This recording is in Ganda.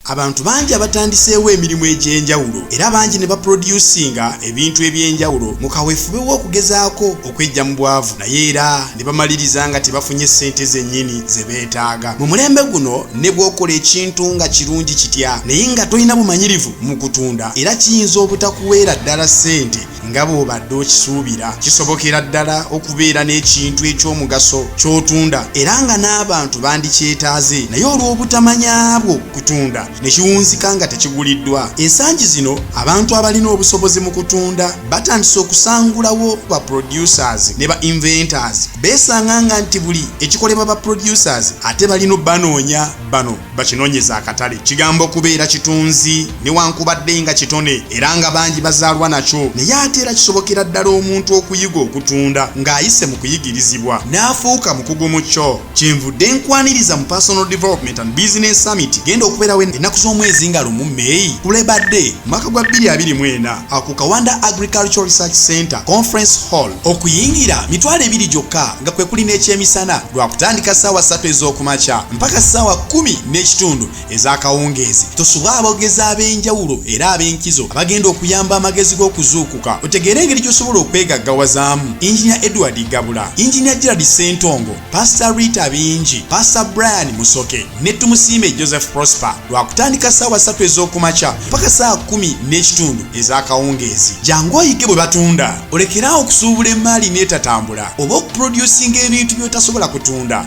Abantu bangi abatandiseewo emirimu egy'enjawulo era bangi ne baproducinga ebintu eby'enjawulo mu kaweefube w'okugezaako okweggya mu bwavu naye era ne bamaliriza nga tebafunye ssente zennyini ze beetaaga. Mu mulembe guno ne bw'okola ekintu nga kirungi kitya naye nga tolina bumanyirivu mu kutunda era kiyinza obutakuweera ddala ssente. nga bw'obadde okisuubira kisobokera ddala okubeera n'ekintu eky'omugaso ky'otunda era nga n'abantu bandikyetaaze naye olw'obutamanya bwo kutunda ne kiwunzika nga tekiguliddwa ensangi zino abantu abalina obusobozi mu kutunda batandise okusangulawo ba producers ne ba inventors beesanga nga nti buli ekikolebwa ba producers ate balina banoonya bano bakinonyeza akatale kigambo kubeera kitunzi newankubadde nga kitone era nga bangi bazaalwa nakyo naye ate era kisobokera ddala omuntu okuyiga okutunda ng'ayise mu kuyigirizibwa n'afuuka mukugu mu kyo kyenvudde nkwaniriza mu personal development and business summit genda okubeerawo ennaku z'omwezi nga lumu meyi ku labour day mwaka gwa 224 aku kawanda agricultural research center conference hall okuyingira mitwalo ebiri gyokka nga kwe kuli n'ekyemisana lwakutandika ssaawa ssatu ez'okumakya mpaka ssaawa kumi n'ekitundu ez'akawungeezi tusubwa abogezi ab'enjawulo era ab'enkizo abagenda okuyamba amagezi g'okuzuukuka otegeere engeri gy'osobola okwegaggawazaamu injinia edward gabula injinia gerald sentongo pasita rita bingi pasita brian musoke ne tumusiime joseph prosper lwakutandika ssaawa ssatu ez'okumakya mpaka ssaawa kumi n'ekitundu ez'akawungeezi jangu oyige bwe batunda olekeraawo okusuubula emmaali n'etatambula oba okuprodusinga ebintu by'otasobola kutunda